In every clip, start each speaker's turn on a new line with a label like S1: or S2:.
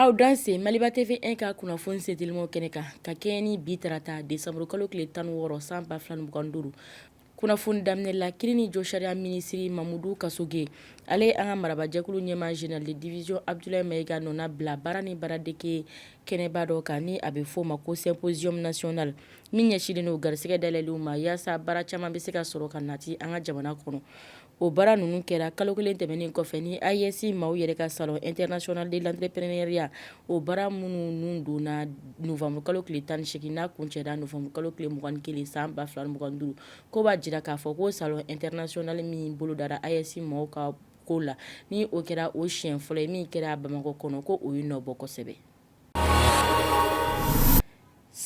S1: Aw danse maliba TV 1 ka kunnafoni sentelimanw kɛnɛ kan ka kɛɲɛ ni bi tarata desanburukalo tile tan wɔɔrɔ san ba fila mugan duuru kunnafoni daminɛ la kiiri ni josariya minisiri mamudu kasoge ale ye an ka marabajɛkulu ɲɛmaa général de division abdoulaye maïga nɔna bila baara ni baaradege kɛnɛba dɔ kan ni a bɛ f'o ma ko symposium national Min ɲɛsinnen don garisɛgɛ dayɛlɛlenw ma yaasa baara caman bɛ se ka sɔrɔ ka nati an ka jamana kɔnɔ o baara ninnu kɛra kalo kelen tɛmɛnen kɔfɛ ni AES maaw yɛrɛ ka salon international de l'entrepreneuriat o baara minnu donna nowanburukalo tile tan ni segin n'a kuncɛra nowanburukalo tile mugan kelen san ba fila mugan duuru ko b'a jira k'a fɔ ko salon international min bolodara AES maaw ka ko la ni o kɛra o siɲɛ fɔlɔ ye min kɛra bamakɔ kɔnɔ ko o ye nɔ bɔ kosɛbɛ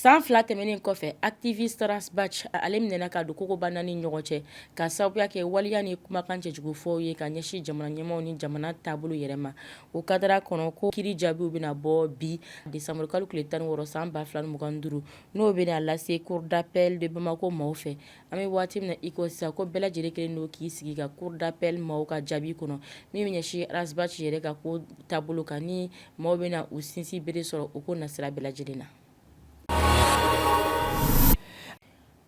S1: san fila tɛmɛnen kɔfɛ activiste ras bath ale minɛna ka don kogoba naani ni ɲɔgɔn cɛ ka sababuya kɛ waleya ni kumakan cɛjugufɔw ye ka ɲɛsin jamana ɲɛmaaw ni jamana taabolo yɛrɛ ma o kadara kɔnɔ ko kiiri jaabiw bɛna bɔ bi desanburukalo tile tan wɔɔrɔ san ba fila mugan duuru n'o bɛna lase cour d'appel de bamakɔ maaw fɛ An bɛ waati min na i ko sisan ko bɛɛ lajɛlen kɛlen don k'i sigi ka cour d'appel maaw ka jaabi kɔnɔ min bɛ ɲɛsin ras bath yɛrɛ ka ko taabolo kan ni maaw bɛna u sinsinbere sɔrɔ o ko nasira bɛɛ lajɛlen na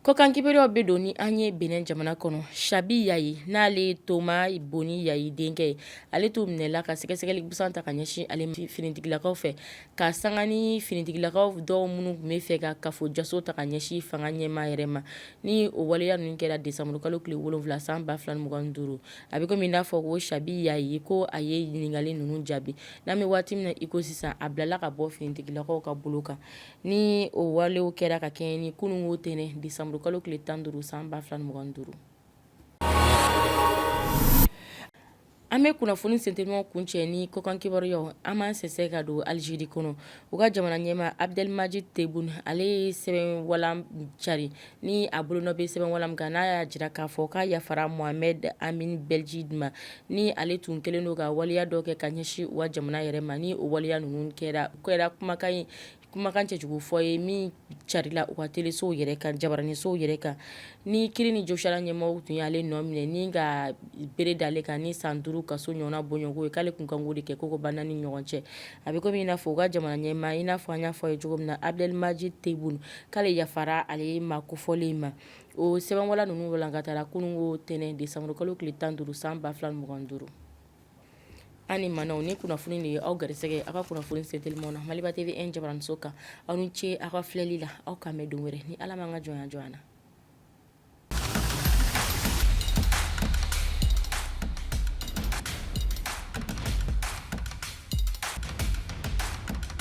S1: kɔkan kibaruyaw bɛ don ni an ye benin jamana kɔnɔ chabi yayi n'ale thomas boni yayi denkɛ ye ale tun minɛla ka sɛgɛsɛgɛli busan ta ka ɲɛsin ale finitigilakaw fɛ ka sanga ni finitigilakaw dɔw minnu tun bɛ fɛ ka kafo jaso ta ka ɲɛsin fanga ɲɛmaa yɛrɛ ma ni o waleya ninnu kɛra desanburukalo tile wolonwula san ba fila mugan duuru a bɛ komi n'a fɔ ko chabi yayi ko a ye ɲininkali ninnu jaabi n'an bɛ waati min na iko sisan a bilala ka bɔ finitigilakaw ka bolo kan ni o walew kɛra ka kɛɲɛ ni kununko tɛnɛ desanburukalo tile tan duuru san ba fila mugan duuru An bɛ kunnafoni sentelimanw kuncɛ ni kɔkan kibaruyaw an b'an sɛnsɛn ka don alizeri kɔnɔ u ka jamana ɲɛmaa abdelmadjid tebboune ale ye sɛbɛn walan cari ni a bolonɔ bɛ sɛbɛn walan kan n'a y'a jira k'a fɔ k'a yafara mohamed amine belghit ma ni ale tun kɛlen don ka waleya dɔ kɛ ka ɲɛsin u ka jamana yɛrɛ ma ni o waleya ninnu kɛra kumakan ye kumakan cɛjugu fɔ ye min carila u ka telesow yɛrɛ kan jabaraninsow yɛrɛ kan ni kiiri ni josariya ɲɛmaaw tun y'ale nɔ minɛ ni ka bere d'ale kan ni san duuru kaso ɲɔgɔnna bɔɲɔgɔnko ye k'ale tun kan k'o de kɛ kogoba naani ɲɔgɔn cɛ a bɛ komi i n'a fɔ u ka jamana ɲɛmaa i n'a fɔ an y'a fɔ ye cogo min na abdelmadjid tebboune k'ale yafara ale maa kofɔlen in ma o sɛbɛnwalan ninnu walankatara kununko tɛnɛn desanburukalo tile tan duuru san ba fila mugan duuru Ani manaw ni kunnafoni de ye aw garisɛgɛ aw ka kunnafoni sentelimanw na Maliba TV jabaraniso kan aw ni ce aw ka filɛli la aw k'an bɛn don wɛrɛ ni ala m'an ka jɔnya jɔ an na